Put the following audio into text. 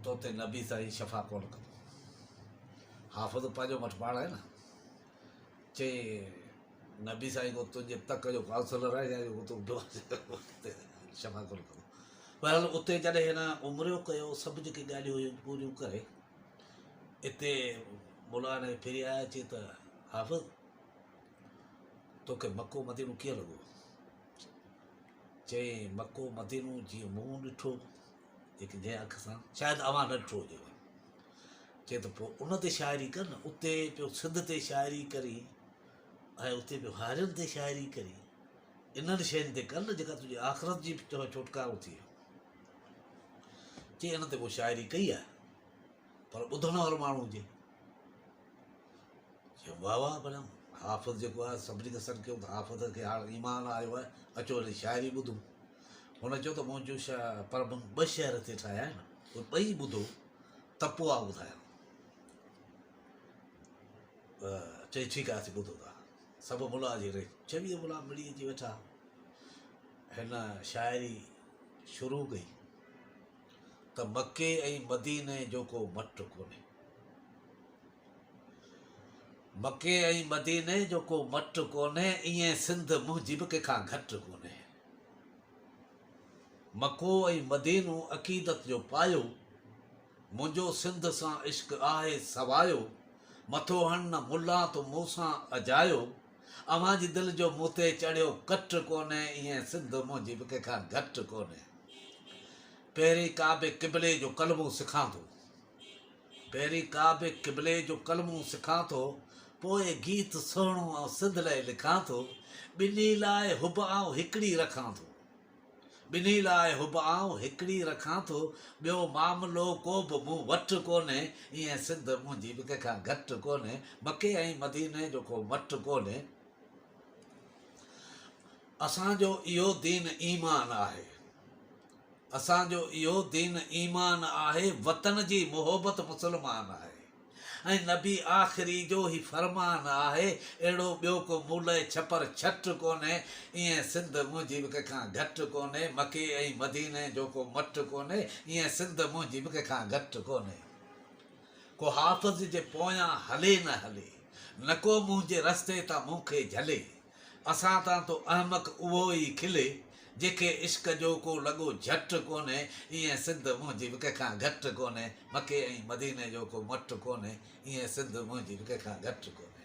تو تي نبي تائين شفا ڪونه ڪندو. حافظ پنهنجو مٺ پاڻ آهي نه. چئي نبي سائين ڪو تنهنجي تڪ جو ڪائونسلر آهي يا جو تون شفا ڪونه ڪندو. بهرحال اتي جڏهن هن عمريو ڪيو سڀ جيڪي ڳالهيون هيون پوريون ڪري اتي مولا هن کي ڦري آيا چي ته حافظ توکي مڪو مدينو ڪيئن لڳو. چئي مڪو مدينو جيئن مون ڏٺو هڪ جنهن اک سان شايد اوهان نه ڏٺو هجيو چي ته پوء ان تي شاعري ڪر نه اتي پيو سنڌ تي شاعري ڪري ۽ اتي پيو هارين تي شاعري ڪري انهن شين تي ڪر نه جيڪا تنهنجي آخرت جي چوء ڇوٽڪارو ٿئي چي ان تي پوء شاعري ڪئي آهي پر ٻڌڻ وارو ماڻهو هجي واهه واهه پر حافظ جيڪو آهي سڀني کي سڏ ڪيو ته حافظ کي هاڻ ايمان آيو آهي اچو هن جي شاعري ٻڌون هن چيو ته مون جو شاهه پربن ٻه شهر هتي ٺاهيا آهن اهي ٻئي ٻڌو ته پوء ٻڌايان چئي ٺيڪ آهي اسين ٻڌو ٿا سڀ ملا جي ري چويهه ملا ملي اچي ويٺا هن شاعري شروع ڪئي ته مکي ۽ مديني جو ڪو مٽ ڪونهي مکي ۽ مديني جو ڪو مٽ ڪونهي ائين سنڌ منهنجي به ڪنهن کان گهٽ ڪونهي مڪو ۽ مدينو عقيدت جو پايو، منهنجو سنڌ سان عشق آهي سوايو، مٿو هڻ نه ملان تو مون سان اجايو، اوهان جي دل جو مون تي چڙهيو ڪٽ ڪونهي، ائين سنڌ منهنجي به ڪنهن کان گهٽ ڪونهي، پهرين ڪعبي قبلي جو ڪلمو سکان ٿو. پهرين ڪعبي قبلي جو ڪلمو سکان ٿو، پوء گيت سهڻو آئون سنڌ لئه لکان ٿو، ٻنهي لاء حب آئون هڪڙي رکان ٿو، ٻنهي لاء حب آئون هڪڙي رکان ٿو، ٻيو معاملو ڪو به مون وٽ ڪونهي، ايئن سنڌ منهنجي به ڪنهن کان گهٽ ڪونهي، مڪي ۽ مديني جو ڪو مٽ ڪونهي، اسان جو اهو دين ايمان آهي. اسان جو اهو دين ايمان آهي وطن جي محبت مسلمان آهي ۽ نبي آخري جو هي فرمان آهي اهڙو ٻيو ڪو مولئي ڇپر ڇٽ ڪونهي ايئن سنڌ منهنجي به ڪنهن کان گهٽ ڪونهي مڪي ۽ مديني جو ڪو مٽ ڪونهي ايئن سنڌ منهنجي به ڪنهن کان گهٽ ڪونهي ڪو حافظ جي پويان هلي نه هلي نڪو منهنجي رستي تان مون کي جهلي اسان تان تو احمق اهو ئي کلي، جيکي عشق جو ڪو لڳو جهٽ ڪونهي، ايئن سنڌ منهنجي به ڪنهنکان گهٽ ڪونهي، مڪي ۽ مديني جو ڪو مٽ ڪونهي، ايئن سنڌ منهنجي به ڪنهنکان گهٽ ڪونهي.